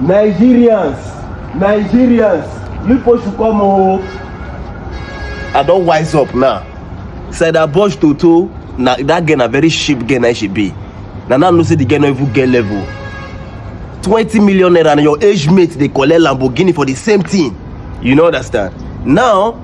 Nigerians, Nigerians, you push to come oh. I don't wise up now. Said that Bosch Toto, now that girl a very cheap girl I should be. Now now no say the girl no even get level. 20 million naira and your age mate they collect Lamborghini for the same thing. You know understand? Now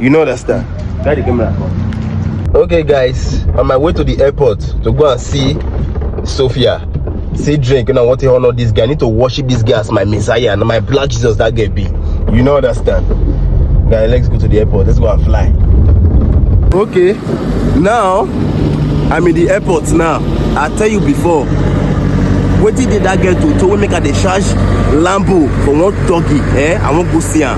You know that star. Guy the camera. Okay, guys, on my way to the airport to go and see Sophia. See drink, you know what to honor this guy. I need to worship this guy as my messiah and my black Jesus that guy be. You know understand. Guy, let's go to the airport. Let's go and fly. Okay, now I'm in the airport now. I tell you before, wetin dey that girl to to wey make her dey charge lambo for one doggy eh i wan go see am